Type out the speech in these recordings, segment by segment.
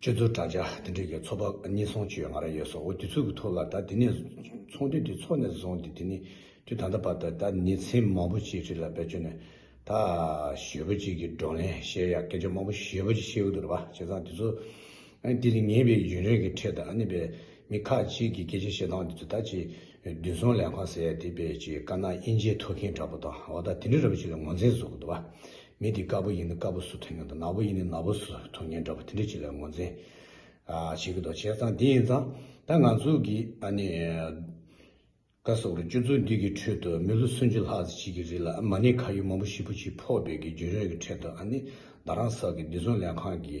སྤྱོད་ཚུལ་དྲ་རྒྱ་འདི་འདྲིས་ཀྱི་ཚོགས་པ་གཉིས་ཚོང་བྱེད་ཡོད་ང་ར་ཡོད་སོགས་འོ་དེ་ཚུལ་གྱི་ཐོག་ལ་ད་དེ་ནས་ཚོང་དུས་དེ་ཚོགས་ནས་བཟུང་སྟེ་དེ་ནས་དུས་ད་ལྟ་བར་དུ་ད་ནི་ཚིག་མང་པོ་ཅིག་རིགས་ལ་བེད་སྤྱོད་ནས་ད་ཞོལ་པོ་ཅིག་གི་བགྲོ་གླེང་བཤད་ཡག་སྐད་ཆ་མང་པོ་ཞོལ་པོ་ཅིག་བཤད་ཡོད་འདུག་ར་བ་བྱས་ཙང་དེ་ཚོ་འདི་ནི་ངེས་པའི་ཡུན་རིང་གི་འཕྲད་དུ་ཨ་ནི་བས་མི་ཁག་ཅིག་གི་སྐད་ཆ་བཤད་སྟངས་འདི་ཚོ་ད་ཅིག་བདུན་སོང་ལས་ཁང་ཟེར་ཡག་དེ་བས་ཅིག་དཀར་ནག་དབྱེ་འབྱེད་ཐོག་མཁན་དྲ་པོ་དང་འོ་ད་དེ་འདྲི་ར་བོ་ཅིག་ལ་ངོ་འཛིན་བཟོ་གི་འདུག་བ་མི་དེ་དཀར་པོ་ཡིན་ནི་དཀར་པོ་སུ་ཐོན་ངེས་འདུག་ནག་པོ་ཡིན་ནི་ནག་པོ་སུ་ཐོན་ངེས་འདྲ་པོ་དེ་འདྲའི་བྱེད་ལས་ངོ་འཛིན་བྱེད་ཀྱི་འདུག་བྱས་ཙང་དེ་ཡིན་ཙང་ད་ང་ཚོ་གི་ཨ་ནེ་ཀ་སོགས་རུ་སྤྱོད་ཚུལ་འདི་གི་ཁྲོད་དུ་མི་ལོ་སུམ་ཅུ་ལྷག་ཅིག་གི་རིང་ལ་མ་ཎི་ཁ་ཡུ་མང་པོ་ཞིག་པོ་ཆེའི་ཕོག་སྦས་ཀྱི་རྒྱུན་རིང་གི་ཁྲོད་དུ་ཨ་ནེ་ད་རང་ས་གི་བདེ་སྲུང་ལས་ཁང་གི།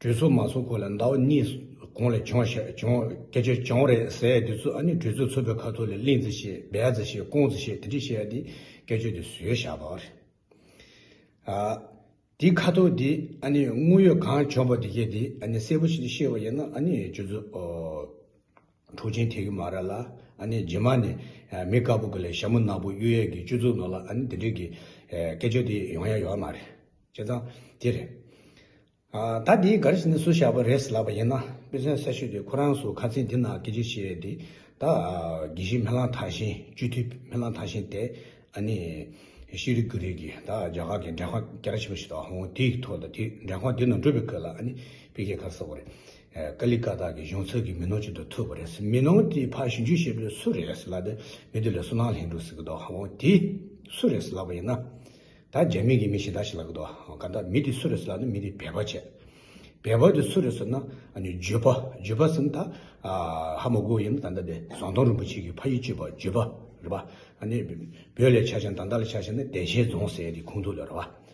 གྲོས་ཚོགས་མ་ཚོགས་གོང་ལ་ཟླ་བ་གཉིས་གོང་ལ་བྱུང་ཞེས་བྱུང་སྐད་ཆ་བྱུང་རེད་ཟེར་ཡ་དེ་ཚོ་ཨ་ནི་གྲོས་ཚོགས་ཚོགས་པའི་ཁ་ཐོག་ལས་གླིང་རྩེ་ཞེས་སྦས་རྩེ་ཞེས་ཀོང་རྩེ་ཞེས་དེ་འདྲས་བཤད་ཡ་དེ་སྐད་ཆོ་དེ་བཟོས་བཞག་པ་རེད། ཨ། དེའི་ཁ་ཐོག་དེ་ཨ་ནི་དངོས་ཡོད་གང་བྱུང་པ་དེ་གས་དེ་ཨ་ནི་གསལ་པོ་ཞིག་ཤེས་པ་ཡིན་ན་ཨ་ནི་ཁྱོད་ཚོ། གྲོགས་ཆེན་ཐེག་གི་མ་ར་ལ་ཨ་ནི་རྗེས་མ་ནི་མི་དཀར་པོ་གི་ལས་ཞྭ་མོ་ནག་པོ་གཡུ་ཡས་ཀྱི་བཅུ་བཙུགས་ནོ་ལ་ཨ་ནི་དེ་འདྲིས་ཀྱི་སྐད་ཆོས་དེ་ཡོང་ཡ་ཡོད་ཨ་མ་རེད་བྱས་ཙང་དེ་རེད། ད་དེའི་གར་ཞིག་ནི་སུ་བཞག་པ་རེད་ལབ་པ་ཡིན་ན་དཔེ་མཚོན་གསལ་ཤོས་དེ་ཁོ་རང་སུ་ཁ་ཚིག་འདི་ན་སྐད་ཆོས་བཤད་ཡས་དེ་ད་དགེ་བཤེས་མེ་གླང་ཐང་ཤིང་བཅུ་ཐུ་མེ་གླང་ཐང་ཤིང་དེ་ཨ་ནི་ཤེས་རིག་དགུ་རིག་གི་ད་རྒྱ་གར་གྱི་འདྲེ་ཁང་རྒྱ་ར་ཆེན་པོ་ཞིག་ད་ཧོང་དེའི་ཐོག་ད་དེའི་འདྲེ་ཁང་དེ་ནང་འགྲུལ་པའི་ཁོད་ལ་ཨ་ནི་དཔེ་ཁྱད་གར་ཟ་བ་རེད། ཀ་ལི་ཀ་ཏཱ་གི་གཞུང་ཚབ་ཀྱི་མི་ནོར་ཅིག་ཏུ་ཐོས་པ་རེད། མི་ནོར་དེའི་ཕ་གཞོན་ཆུ་ཤེལ་པོས་སུ་རེད་ཟེར་ལབ་པས་མི་དེ་ལས་སུ་ནང་ལྷན་འགྲོ་ཟེར་གི་འདུག་ཧ་འོ་དེ། སུ་རེད་ཟེར་ལབ་པ་ཡིན་ན། ད་རྒྱ་མི་གི་མི་གཞན་དག་ཞིག་ལབ་གི་འདུག་ག་ད་མི་དེ་སུ་རེད་ཟེར་ལབ་ན་མི་དེ་བལ་པ་བྱས། བལ་པ་དེ་སུ་རེད་ཟེར་ན། ཇོ་པ། ཇོ་པ་ཟེར་ན་ད། ཧ་མོ་གོ་ཡིན་ན་ད་ད་དེ་ཟོང་སྟོང་རིན་པོ་ཆེ་གི་ཕ་ཡི་གཅེས་པ་ཇོ་པ་རེད་པ། བོད་ལས་ཆ་ཆེན་དང་ད་ལ་ཆ་ཆེན་ན་བདེ་ཆེན་རྫོང་ཟེར་ཡས་དེ་ཁུངས་ཐུག་ལོས་རེད་པ།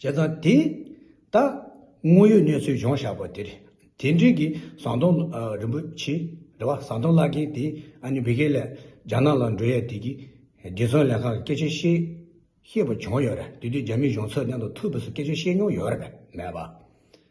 བྱས་ཙང་དེ་ལྟ། དངོས་ཡོད་གནས་ཚུལ་གཞུང་བཞག་པ་དེར་དེ་འབྲེལ་གྱི་ཟང་ཐོང་རིན་པོ་ཆེ་རེད་བ་ཟང་ཐོང་བཀླག་མཁན་དེས་ཨ་ནི་བྷི་གྷེ་ལས་རྒྱ་ནག་ལ་འགྲོ་ཡས་དེ་གི་རྗེ་ཚོང་ལས་ཁང་གི་སྐད་ཆ་བཤད་ཤེས་པ་བྱུང་ཡོད་རེད་དེ་དུས་རྒྱ་མི་གཞུང་ཚོགས་སྟེང་དུ་ཐུགས་ཕུད་སུ་སྐད་ཆ་བཤད་མྱོང་ཡོད་རེད་མེད་བ།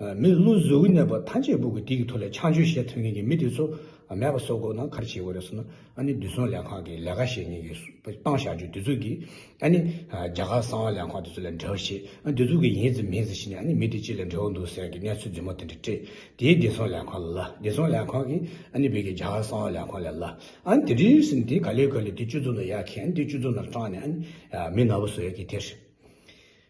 མི་བསླུ་གཟུགས་གནས་པ་ཐམས་ཅད་སྦུག་གི་སྡིག་གི་ཐོ་ལས་ཆང་ཆོས་ཤེས་ཐོན་མཁན་གྱི་མི་དེ་ཚོ་མེད་པ་སོགས་སྒོ་ནང་ཁར་བྱེད་དགོས་རེད་བསམ་ན་ཨ་ནི་བདུད་སྲོང་ལས་ཁང་གི་ལས་ཀ་བྱེད་མཁན་གྱི་སྤང་བཞག་རྒྱུ་དེ་ཚོ་གིས་ཨ་ནི་རྒྱ་གར་གསང་བ་ལས་ཁང་དེ་ཚོ་ལས་འབྲེལ་བ་བྱེད་ཨ་དེ་ཚོ་གིས་ཡིན་ཟེར་མིན་ཟེར་བྱས་ནས་ཨ་ནི་མི་དེ་ཅི་ལས་འབྲེལ་བ་འདུག་ཟེར་གྱི་གནས་ཚུལ་རྫུན་མ་དེ་འདྲ་སྤྲད་དེ་བདེ་སྲོང་ལས་ཁང་ལ་ལ་བདེ་སྲོང་ལས་ཁང་གིས་ཨ་ནི་བོད་ཀྱི་རྒྱ་གར་གསང་བ་ལས་ཁང་ལས་ལ་ཨ་ནི་དེ་འདྲ་ཡིན་ཟེར་ནས་དེ་ག་ལེར་ག་ལེར་དེ་སྤྱོད་རྩོམ་ལ་ཡར་ཁྱེར་ཨ་ནི་དེ་སྤྱོད་རྩོམ་ལ་སྤྲང་ནས་ཨ་ནི་མི་ནག་པོ་བཟོ་ཡག་གི་དེར།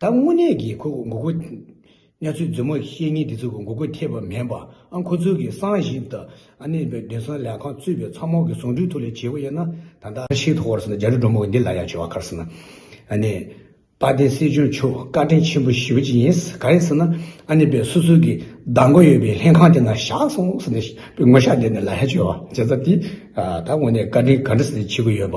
ད་དངོས་གནས་ཀྱི་ཁོ་མགོ་སྐོར། གནས་ཚུལ་རྫུན་མ་བཤད་ཉེན་དེ་ཚོ་མགོ་སྐོར་ཐེབས་པ་མེད་པ་ཨང་ཁོ་ཚོའི་གིས་སང་ཞིབ་ད་ནི་བདུན་ཚང་ལས་ཁང་བཙུད་པའི་ཚང་མོག་གི་ཟུང་དྲུག་ཐུགས་ལས་བྱེད་པོ་ཡིན་ན་ད་ལྟ་ཤི་ཐོག་བར་སོང་ན་རྒྱ་རི་འབྲོང་མོག་འདི་ལ་ཡང་བྱེད་བ་ཁར་སོང་ན་ཨ་ནི་དཔལ་ལྡན་སྲིད་སྐྱོང་མཆོག་བཀའ་དྲིན་ཆེན་པོ་ཞུ་ཅི་ཡིན་ག་རེ་ཟེར་ན་ཨ་ནི་བས་སོ་སོའི་གི་བདག་མགོ་ཡོད་པའི་ལྷན་ཁང་དེ་ན་བཞག་སོང་ཟེར་ནས་བས་ངོ་ཤ་འདེབས་ནས་ལ་ཡང་བྱེད་བ་བྱེད་ས་དེ་ད་དངོས་གནས་བཀའ་དྲིན་ག་འདྲ་ཟེར་ནས་ཆེ་གི་ཡོད་པ།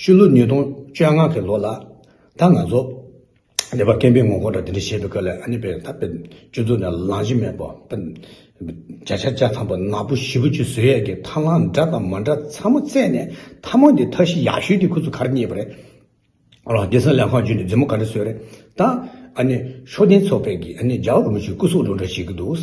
ཤུལ་ལུས་ཉིས་སྟོང་བཅོ་ལྔ་གི་ལོ་ལ། ད་ང་ཚོ། ལེ་བར་སྐེམ་པའི་ངོ་རྒོལ་དགྲ་འདི་འདྲ་བྱེད་པའི་སྐབས་ལས་ཨ་ནེ་པའི་ད་པེ། ཅུ་ཚོ་ནས་ལངས་གཞི་མེད་པོ། བརྒྱ་ཆ་བརྒྱ་ཐང་པོ་ནག་པོ་བཞི་བོ་ཅུ་ཟོས་ཡས་ཀྱི་ཐར་ལངས་འདྲ་དང་མ་འདྲ་ཚ་མོ་བཙལ་ནས་ཐ་མ་འདི་ཐ་གཞི་ཡག་ཤོས་འདི་ཁུ་ཚུར་གར་རྙེད་པ་རེད། རོ་སྡེ་སངས་ལས་ཁང་བརྒྱུད་ནས་རྫི་མོ་ག་འདྲ་བཟོས་རེད་ད། ཨ་ནེ། ཤོག་ལྡན་ཚོགས་པས་ཀྱིས་ཨ་ནེ་ཇག་རུང་ཞིག་སྐུ་སྲོག་བླུ་འདྲ་བྱེད་ཀྱི་འདུག།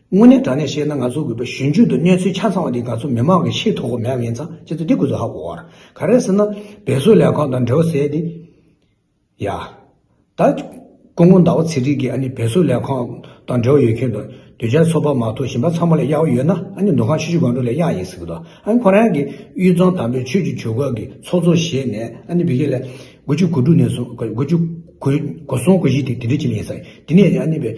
དངོས་གནས་དྲང་གནས་བཤད་ན་ང་ཚོ་གུས་པ་གཞོན་སྐྱོད་དུ་གནས་ཚུལ་ཆ་ཚང་བ་འདི་ང་ཚོ་མི་མང་གི་ཤེས་ཐུབ་གོ་མེད་པ་ཡིན་ཙང་ཁྱེད་ཚོ་འདི་གུས་ཚོ་ཧ་གོ་གོ། ག་རེ་ཟེར་ན། བེད་གསོ་ལས་ཁང་དང་འབྲེལ་བ་ཟེར་ཏེ། ཡ། ད། སྐུ་ངོ་ཟླ་བ་ཚེ་རིང་གིས་ཨ་ནི་བེད་གསོ་ལས་ཁང་དང་འབྲེལ་བ་ཡོད་མཁན་དང་དུས་བྱ་ཚོ་པ་མ་གཏོགས་གཞན་པ་ཚང་མ་ལས་གཡག་བ་ཡོད་ན་ཨ་ནི་འདུ་ཁང་ཆུ་ཆུ་སྒང་དྲུག་ལས་གཡག་ཡིན་ཟེར་གི་འདུག་ཨ་ནི་ཁོ་རང་གིས་གཡུ་རྫོང་དམ་པའི་ཆོས་ཀྱི་ཇུས་འགོད་ཀྱི་ཚོགས་གཙོ་བཞེས་ནས་ཨ་ནི་བི་ཁེ་ལས། དགུ་བཅུ་གོ་དྲུག་ནས་བཟུང་དགུ་བཅུ་གོ་གོ་གསུམ་གོ་བཞི་དེ་དེ་འདྲའི་ཆེད་ལས་ཡིན་ས། དེ་ནས་ཨ་ནི་བེད།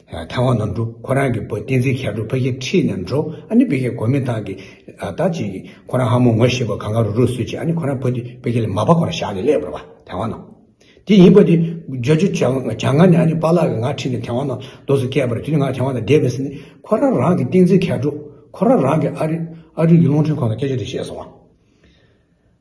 ཐང་བ་ན་འགྲོ་ཁོ་རང་གི་བུ་བསྟན་འཛིན་ཤར་གྲུ་ཕ་ཁྱི་ཁྲིད་ནས་འགྲོ་ཨ་ནི་བུ་ཁྱི་གོ་མི་ཐང་གི་ད་ཅིག་ཁོ་རང་ཧ་མོ་ངོ་ཤེས་པ་གང་གང་རུ་རུ་བཟོས་ཅིག་ཨ་ནི་ཁོ་རང་བུ་དེ་བུ་ཁྱི་ལ་མ་པ་ཁོ་རང་ཞག་ནས་སླེབས་པར་བ་ཐང་བ་ན་དེ་ཡིན་པ་དེ་རྗོ་རྗོ་བྱ་ང་ནི་ཨ་ནི་པ་ལགས་ཀྱི་ང་ཁྲིད་ནས་ཐང་བ་ན་རྡོ་སོ་སྐྱས་པར་དེ་ནི་ང་ཐང་བ་ན་བསྡད་མི་སྲིད་ནི་ཁོ་རང་རང་གི་བསྟན་འཛིན་ཤར་གྲུ་ཁོ་རང་རང་གི་ཨ་རི་ཨ་རི་གི་རླུང་འཕྲིན་ཁོ་ན་སྐད་ཆ་དེ་བཤད་སོང་བ།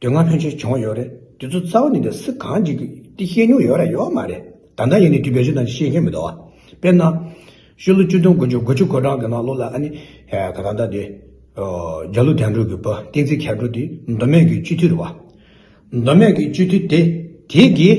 དོན་ང་ལྷོད་ཆེ་བྱུང་བ་ཡོད་རེད་དེ་ཚོ་རྩ་བ་ནས་འདི་སི་གང་ཅིག་གིས་བཤད་མྱོང་ཡོད་ར་ཡོད་མ་རེད་ད་ནངས་ཡིན་ནའི་དུས་བེད་སྤྱོད་དང་བཤད་མཁན་མི་འདུག་བ་དཔེར་ན། ཤུ་ལོ་བཅུ་དུང་དགུ་བཅུ་དགུ་བཅུ་གོ་གྲངས་ཀྱི་ནང་ལོ་ལ་ཨ་ནི་ག་ད་ད་དེ། རྒྱ་ལོ་དན་གྲོ་གི་བུ་ཏིང་ཙི་ཁྱད་གྲོ་དེ་མདོ་སྨད་ཀྱི་སྤྱི་འཐུས་རེད་བ། མདོ་སྨད་ཀྱི་སྤྱི་འཐུས་དེ་དེ་གིས།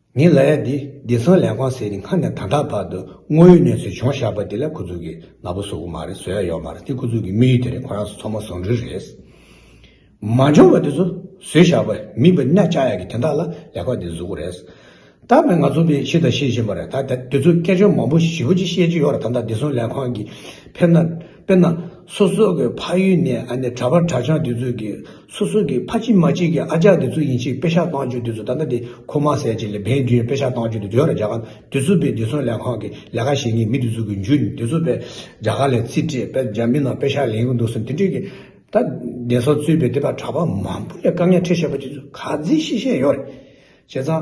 ངའི་ལ་ཡ་འདི་བདེ་སྲུང་ལས་ཁང་ཟེར་ནས་སྔར་ནས་ད་ལྟ་བར་དུ་དངོས་ཡོད་གནས་ཚུལ་བྱུང་བཞག་པ་དེ་ལས་ཁོ་ཚོ་གིས་ལ་བོ་བཟོ་གི་མ་རེད་བཟོ་ཡ་ཡོད་མ་རེད་དེ་ཁོ་ཚོ་གི་དམིགས་ཡུལ་དེ་རེད་ཁོ་རང་ཚོ་ཚོ་མ་བཟོ་འདྲུལ་རེད། མ་འབྱོར་བ་དེ་ཚོ་བཟོས་བཞག་པ་མིན་པ་གནས་བཅའ་ཡ་གི་དེ་དག་ལ་ལས་ཁང་འདི་བཟོ་གི་རེད། ད་བས་ང་ཚོ་འདི་ཤེས་དང་ཤེས་བཞིན་པ་རེད་ད་དེ་ཚོ་སྐད་ཆ་མང་པོ་ཞིབ་པོ་ཅིག་བཤད་ཀྱི་ཡོད་རེད་ད་ད་བདེ་སྲུང་ལས་ཁང་གིས་ཕེབས་ན། དཔེར་ན། སོ་སོ་གི་ཕ་ཡུལ་ནས་ཨ་ནེ་གྲྭ་བ་གྲྭ་ཆང་དེ་ཚོས་ཀྱི་སོ་སོ་གི་ཕ་གཅིག་མ་གཅིག་གི་ཨ་ཅག་དེ་ཚོ་ཡིན་ཕྱིར་དཔེ་ཆ་བཏང་བཅོས་དེ་ཚོ་ད་ལྟ་དེ་ཁོ་མ་ཟས་ཅིག་ལས་བན་བདུན་དཔེ་ཆ་བཏང་བཅོས་དེ་བོད་ར་རྒྱ་གར་དེ་ཚོ་པའི་བདེ་སྲུང་ལས་ཁང་གི་ལས་ཀ་བྱེད་མཁན་མི་དེ་ཚོ་གི་མཇུག་ནས་དེ་ཚོ་པའི་རྒྱ་གར་ལས་རྩིས་སྤྲད་པས་རྒྱ་མི་རྣམས་དཔེ་ཆ་ལེན་གི་འདུག་ཟེར་དེ་འདྲས་ཀྱི་ད་བདེན་སོགས་རྩོད་པའི་དེ་པ་གྲྭ་བ་མང་པོ་ལས་དཀའ་ངལ་འཕྲད་བྱས་པ་དེ་ཚོ་ག་ཚིག་ཤེས་བཤད་ཡོད་རེད་བྱས་ཙང།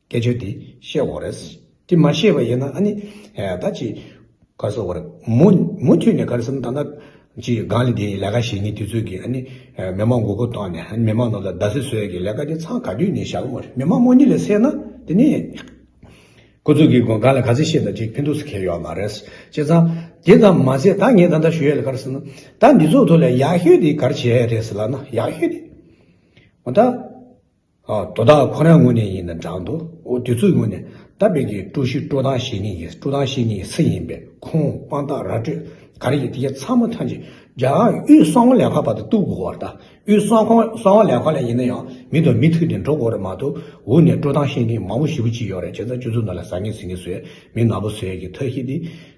སྐད་ཆོ་འདི་བཤད་འོ་རེད། དེ་མ་བཤད་པ་ཡིན་ན་ཨ་ནི། ད་ཅི། ག་སོ་བར། མུ་མཐུད་ནས་གར་སོང་ད་ནག། ཅི་སྒང་ལས་དེ་ལས་ཀ་བྱེད་ངེས་དུས་ཚོད་ཀྱི་ཨ་ནི། མི་མང་མགོ་བོ་བཏང་ནས་ཨ་ནི་མི་མང་ནང་ལ་རྡ་སེ་བཟོས་ཀྱི་ལས་ཀ་དེ་ཚང་ག་དུས་ནས་བྱ་གི་མོ་རེད་མི་མང་རྨོ་གཉིད་ལས་སད་ན་དེ་ནས། ཁོ་ཚོ་གི་སྒང་ལ་ག་ཚད་བཤད་ན་ཅིག་ཕན་ཐོག་སུ་ཁེལ་ཡོད་མ་རེད། བྱས་ཙང། དེ་ཙམ་མ་ཟད་ད་ངས་ད་ལྟ་ཞུ་ཡས་ལ་གར་སོང་ན། ད་འདི་ཚོགས་ཐོག་ལ་ཡག་ཤོས་དེ་གར་བྱས་ཡས་རེད་ཟེར་ལ་ན་ཡག་ཤོས་དེ། འོ་ད། དོ་བདག་ཁོ་རང་ངོས་ནས་ཡིན་ན་འབྲང་དུ་འོ་དུས་ཚོད་ངོས་ནས་ད་བེད་ཀྱི་ཀྲུའུ་ཞི་ཀྲོའུ་ཐང་ཞེ་གཉིས་ཀྱི་ཀྲུའུ་ཐང་ཞེ་གཉིས་ཚེ་ཡིན་པས་ཁོང་དཔང་རྟགས་ར་སྤྲོད་ག་རེ་ཡིན་དེ་གྱ་ཚང་མ་ཐོན་རྗེས་རྒྱ་ནག་དབུས་གསང་བ་ལས་ཁང་བར་དུ་གཏུག་དགོས་བར་ད་དབུས་གསང་བ་ལས་ཁང་ལས་ཡིན་ན་ཡང་མི་དང་མི་ཐུག་ཏེ་འགྲོ་དགོས་རེད་མ་གཏོགས་འུ་ནས་ཀྲུའུ་ཐང་ཞེ་གཉིས་མང་བོ་ཞི་བོ་གཅིག་ཡོད་རེད་བྱས་ཙང་སྤྱི་ཚོགས་ནང་ལ་ཟ་ངེ་ཟིན་ངེ་བཟོས་མི་ནག་པོ་ཟོས་ཀྱི་ཐ་ཤི་དེ།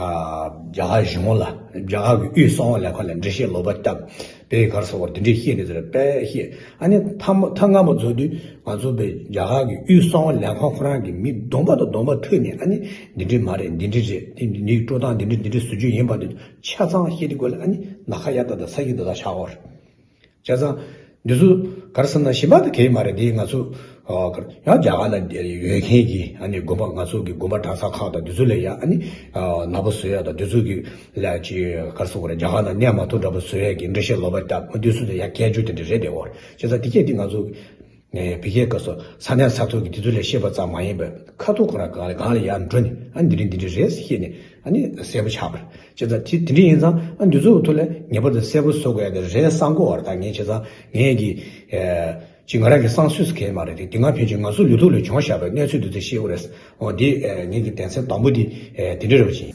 རྒྱ་གར་གཞུང་ལ་རྒྱ་གར་གྱི་དབུས་གསང་བ་ལས་ཁོ་ལ་འགྲེལ་བཤད་ལོག་པ་བཏབ། བོད་ཡིག་གར་སོང་བར་དེ་འདྲས་བཤད་ནས་ཟེར་བས་བཤད། ཨ་ནི་ཐ་མ་ཐ་སྔ་མོ་རྫོགས་དུས་ང་ཚོ་བོད་རྒྱ་གར་གྱི་དབུས་གསང་བ་ལས་ཁོ་ཁོ་རང་གི་མི་གདོང་པ་དང་གདོང་པ་ཐུག་ནས་ཨ་ནི་འདི་འདྲས་མ་རེད་འདི་འདྲས་རེད་དེ་འདི་ཡིག་སྤྲོ་སྟངས་འདི་འདྲས་འདི་འདྲས་བཟོ་རྒྱུ་ཡིན་པ་འདི་ཆ་ཚང་བཤད་དེ་དགོས་ལ་ཨ་ནི་ནཱ་ཁ་ཡ་ད་ད་ས་ཡིག་ད་ད་ཆག་གོ། བྱས་ཙང། འདི་ཚོ་གར་བསམ་ན་ཞིམ་པ་དེ་གས་མ་རེད་དེ་ང་ཚོ། ཡང་རྒྱ་གར་ལ་ཡོད་མཁན་གྱི་དགོན་པ་ང་ཚོ་གི་དགོན་པ་གྲྭ་ས་ཁག་དང་འདི་ཚོ་ལས་ཡག་ཨ་ནི། ནག་པོ་བཟོས་ཡག་དང་འདི་ཚོ་གི་ལས་ཀྱི་གར་སོང་བ་རེད་རྒྱ་གར་ལ་གནས་མ་ཐོ་འདྲ་པོ་བཟོས་ཡག་གི་འགྲེལ་བཤད་ལོག་པ་བཏབ་ཨ་འདི་ཚོ་ལས་ཡག་སྐད་ཅོ་དེ་འདྲ་རེད་དེ་འོ་རེད་བྱས་ཙང་དེ་སྐད་དེ་ང་ཚོ། ནས་བི་གས་སྐབས་སུ་ས་གནས་ས་ཐོག་གི་དེ་ཚོ་ལས་ཤེས་པ་ཙམ་མ་ཡིན་པར་ཁ་ཐུག་ཁོ་རང་གང་ལ་གང་ལ་ཡར་འགྲོ་ནས་ཨ་འདི་རི་འདི་འདི་རེད་ཤེས་ནས་ཨ་ནི་གསལ་པོ་ཆགས་པར་བྱེད་ཙང་དེ་དེ་འདྲ་ཡིན་ཙང་ཨ་འདི་ཚོ་ཐོག་ལ་ངེས་པར་དུ་གསལ་པོ་བཟོ་དགོས་ཡག་གི་རེད་གསང་གོ་བར་ད་ངས་བྱས་ཙང་ངས་ཀྱི། ཅི་ང་རང་གི་གསང་སུས་སུ་གས་མ་རེད་དེ་དེ་སྔ་ཕན་ཆོད་ང་ཚོ་ལུས་ཐོག་ལས་བྱུང་བཞག་པའི་གནས་ཚུལ་འདི་ཚོ་ཤེས་དགོས་རེད་ཨོ་དེ་ངས་ཀྱི་གདན་སའི་དང་པོ་དེ་དེ་འདྲ་རེད་བ་ཅི།